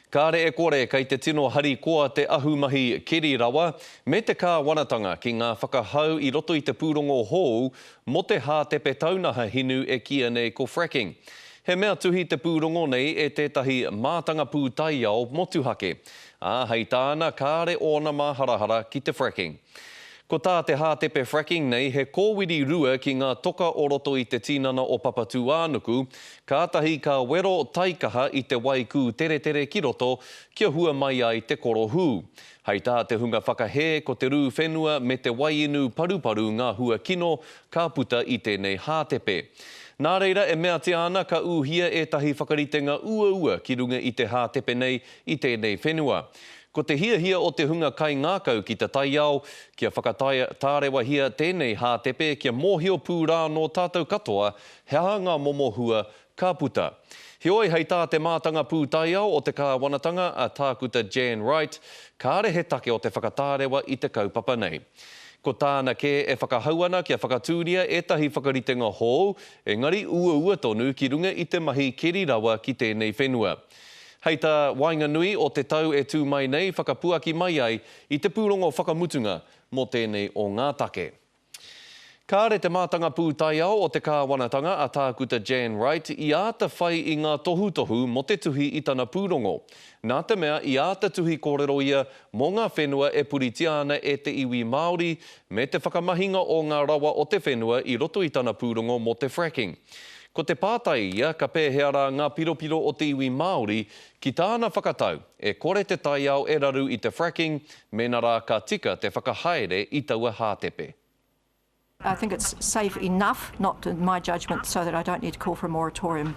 Kāre e kore kei te tino harikoa te ahumahi keri rawa me te kāwanatanga ki ngā whakahau i roto i te pūrongo hou mō te hātepe taunaha hinu e kīia nei ko fracking. He mea tuhi te pūrongo nei e tētahi mātanga pūtaiao motuhake, ā, hei tāna kāre ōna māharahara ki te fracking. Ko tā te hātepe fracking nei he kōwiri rua ki ngā toka o roto i te tinana o Papatūānuku, kātahi ka wero taikaha i te wai kūteretere ki roto kia hua mai ai te korohū. Hei tā te hunga whakahē ko te rū whenua me te wai inu paruparu ngā hua kino ka puta i tēnei hātepe. Nā reira e meatia ana ka ūhia ētahi whakaritenga uaua ki runga i te hātepe nei i tēnei whenua. Ko te hiahia o te hunga kaingākau ki te taiao, kia whakataea, tārewahia tēnei hātepe kia mōhio pū rā nō tātou katoa he aha ngā momo hua ka puta. Heoi, hei tā te mātanga pūtaiao o te kāwanatanga, a Tākuta Jan Wright, kāre he take o te whakatārewa i te kaupapa nei. Ko tāna kē e whakahau ana kia whakatūria ētahi whakaritenga hou, engari uaua tonu ki runga i te mahi keri rawa ki tēnei whenua. Hei tā waenganui o te tau e tū mai nei whakapuaki mai ai i te pūrongo whakamutunga mō tēnei o ngā take. Kāre te mātanga pūtaiao o te kāwanatanga a Tākuta Jan Wright i āta whai i ngā tohutohu mō te tuhi i tana pūrongo, nā te mea i āta tuhi kōrero ia mō ngā whenua e puritia ana e te iwi Māori me te whakamahinga o ngā rawa o te whenua i roto i tana pūrongo mō te fracking. Ko te pātai ia, ka pēhea rā ngā piropiro o te iwi Māori? Ki tāna whakatau, e kore te taiao e raru i te fracking mēnā rā ka tika te whakahaere i taua hātepe. I think it's safe enough, not in my judgement, so that I don't need to call for a moratorium.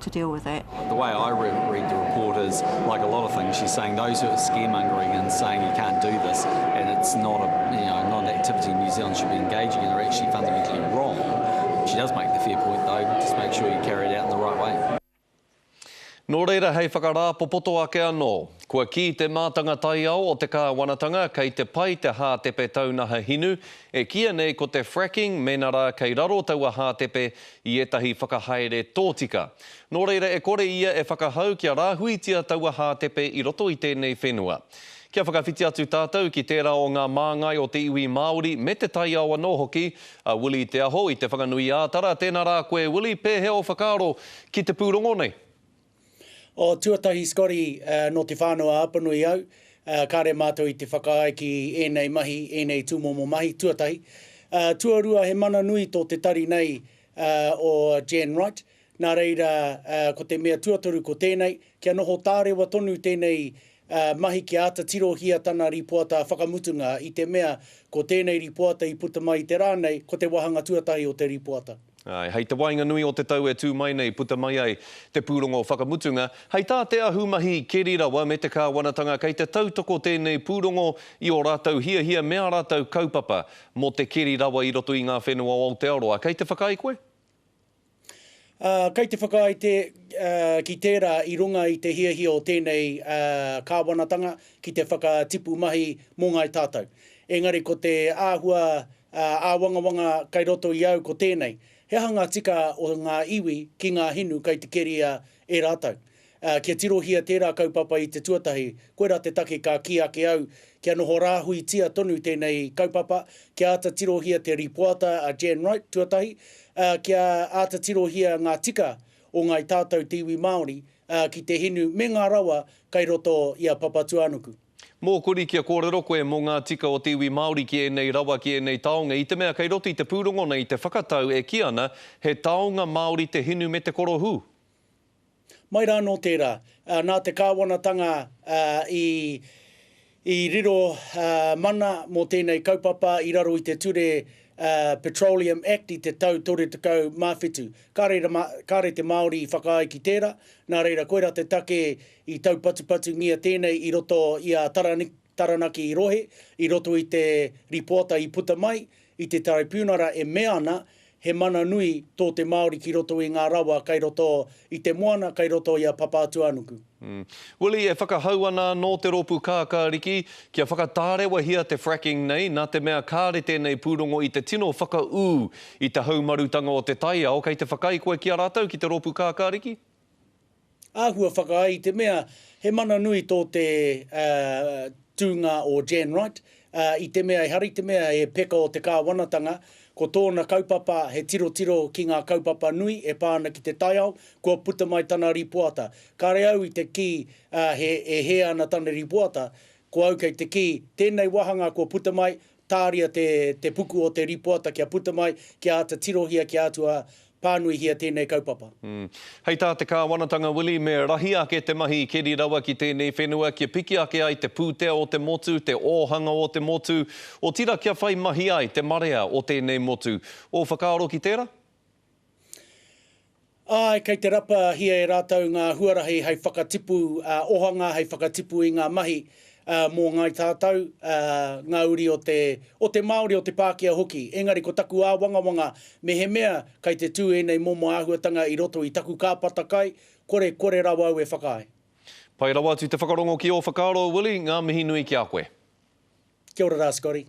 to deal with that. The way I read, read the report is, like a lot of things, she's saying those who are scaremongering and saying you can't do this, and it's not a you know not an activity New Zealand should be engaging in, are actually fundamentally wrong. She does make the fair point though, just make sure you carry it out in the right way. Nō reira, hei whakarāpopoto ake anō, kua kī te mātanga taiao o te kāwanatanga kei te pai te hātepe taunaha hinu, e kīia nei ko te fracking mēnā rā kei raro taua hātepe i ētahi whakahaere tōtika. Nō reira e kore ia e whakahau kia rāhuitia taua hātepe i roto i tēnei whenua. Kia whakawhiti atu tātou ki tērā o ngā māngai o te iwi Māori me te taiao anō hoki, a Willie Te Aho i Te Whanganui-ā-Tara, tēnā rā koe Willie, pēhea ō whakaaro ki te pūrongo nei? Oh, tuatahi Scotty, nō Te Whānau-a-Apanui au, kāre mātou i te whakaae ki ēnei mahi, ēnei tūmomo mahi, tuatahi. Tuarua, he mana nui tō te tari nei o Jan Wright, nā reira, ko te mea tuatoru ko tēnei, kia noho tārewa tonu tēnei ā, mahi kia āta tirohia tana rīpoata whakamutunga, i te mea, ko tēnei rīpoata i puta mai i te rā nei, ko te wāhanga tuatahi o te rīpoata. Āe, hei te waenganui o te tau e tū mai nei puta mai ai te pūrongo whakamutunga, hei tā te ahumahi keri rawa me te kāwanatanga kei te tautoko tēnei pūrongo i ō rātou hiahia me ā rātou kaupapa mō te keri rawa i roto i ngā whenua o Aotearoa. Kei te whakaae koe? Ā, kei te whakaae te, ā, ki tērā i runga i te hiahia o tēnei, ā, kāwanatanga ki te whakatipu mahi mō ngāi tātou. Engari ko te āhua, ā, āwangawanga kei roto i au ko tēnei, he aha ngā tika o ngā iwi ki ngā hinu kei te keria e rātou? Ā, kia tirohia tērā kaupapa i te tuatahi, koirā te take ka kī ake au, kia noho rāhuitia tonu tēnei kaupapa, kia āta tirohia te rīpoata a Jan Wright tuatahi, ā, kia āta tirohia ngā tika o ngāi tātou te iwi Māori, ā, ki te hinu me ngā rawa kai roto i a Papatūānuku. Mōkori kia kōrero koe mō ngā tika o te iwi Māori ki ēnei rawa, ki ēnei taonga, i te mea kei roto i te pūrongo nei te whakatau e kī ana he taonga Māori te hinu me te korohū. Mai rā nō tērā, nā te kāwanatanga i i riro mana mō tēnei kaupapa i raro i te ture Petroleum Act i te tau 37, kāre te Māori i whakaae ki tērā, nā reira koirā te take i taupatupatungia tēnei i roto i a Taraniki. Taranaki i rohe, i roto i te ripoata i puta mai i te Taraipiunara e mea ana he mana nui tō te Māori ki roto i ngā rawa kai roto i te moana, kai roto i a Papātuanuku. Willie, e whakahau ana anō te rōpū kākāriki kia whakatārewahia te fracking nei nā te mea kāre tēnei pūrongo i te tino whakaū i te haumarutanga o te taiao, kei te whakaae koe ki a rātou, ki te rōpū kākāriki? āhua whakaae i te mea he mana nui tō te tūnga o Jan Wright i te mea ehara i te mea he peka o te kāwanatanga, ko tōna kaupapa he tirotiro ki ngā kaupapa nui e pā ana ki te taiao, kua puta mai tana rīpoata. Kāre au i te kī he e hē ana tana rīpoata, ko au kei te kī, tēnei wāhanga kua puta mai, tāria te, te puku o te rīpoata kia puta mai, kia āta tirohia, kia āta tua pānuihia tēnei kaupapa. Mm. Hei tā te Kāwanatanga Willie, me rahi ake te mahi i keri rawa ki tēnei whenua, kia piki ake ai te pūtea o te motu, te ōhanga o te motu, otirā kia whai mahi ai te marea o tēnei motu. Ō whakaaro ki tērā? Āe, kei te rapahia e rātou ngā huarahi hei whakatipu ohanga, hei whakatipu i ngā mahi mō Ngāi Tātou, ngā uri o te, o te Māori, o te Pākehā hoki. Engari ko taku āwangawanga, mehemea kei te tū ēnei momo āhuatanga i roto i taku kāpata kai, kore, kore rawa au e whakaae. Pai rawa atu te whakarongo ki ō whakaaro, Willie, ngā mihi nui ki a koe. Kia ora rā, Scotty.